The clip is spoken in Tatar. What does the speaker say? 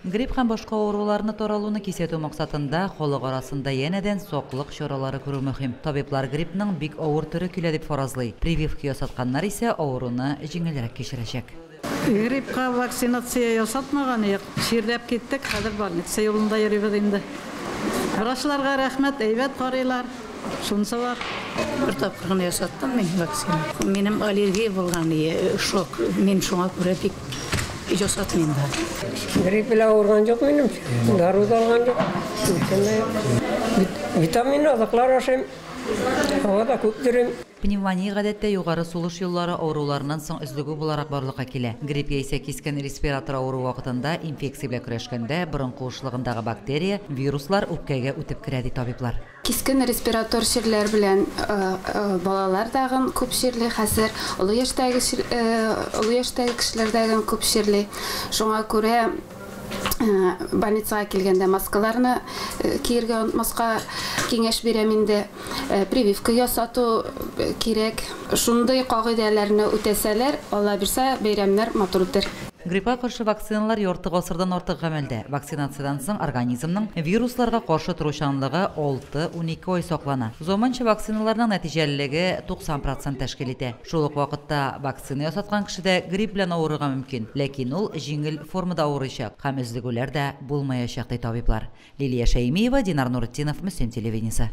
Грипп һәм башка авыруларны таралуны кисәтү максатында, халык арасында янәдән саклык чаралары күрү мөһим. Табиблар гриппның бик авыр төре килә дип фаразлый, прививка ясатканнар исә авыруны җиңелрәк кичерәчәк. Гриппка вакцинация ясатмаган юк. Чирләп киттек, хәзер больница юлында йөрибез инде. Врачларга рәхмәт, әйбәт карыйлар. Сунса бар. Бер тапкыр гына ясаттым мин вакцина. Минем аллергия булган ие, шок. Мин шуңа күрә бик ясатмыйм да. Грипп белән авырган юк минем. Дару да алган юк. Бүтән дә юк. Витамин азыклар ашыйм. Һава да күп йөрим. Пневмония гадәттә югары сулыш юллары авыруларыннан соң өзлегү буларак барлыкка килә. Грипп яисә кискен респиратор авыруы вакытында инфекция белән көрәшкәндә борын куышлыгындагы бактерия, вируслар үпкәгә үтеп керә, ди табиблар. Кискен респиратор чирләр белән балалар тагын күп чирли хәзер, олы яшьтәге олы яшьтәге кешеләр тагын күп чирли. Шуңа күрә больницага килгәндә маскаларны киергә онытмаска киңәш бирәм инде. Прививка ясату кирәк. Шундый кагыйдәләрне үтәсәләр, Аллабирса, бәйрәмнәр матур үтәр. Гриппка каршы вакциналар ярты гасырдан артык гамәлдә. Вакцинациядән соң организмның вирусларга каршы торучанлыгы алты-унике ай саклана. Заманча вакциналарның нәтиҗәлелеге 90 процент тәшкил итә. Шул ук вакытта вакцина ясаткан кеше дә грипп белән авырырга мөмкин, ләкин ул җиңел формада авырыйчак һәм өзлегүләр дә булмаячак, ди табиблар. Лилия Шәймиева, Динар Нуретдинов, Мөслим телевидениесе.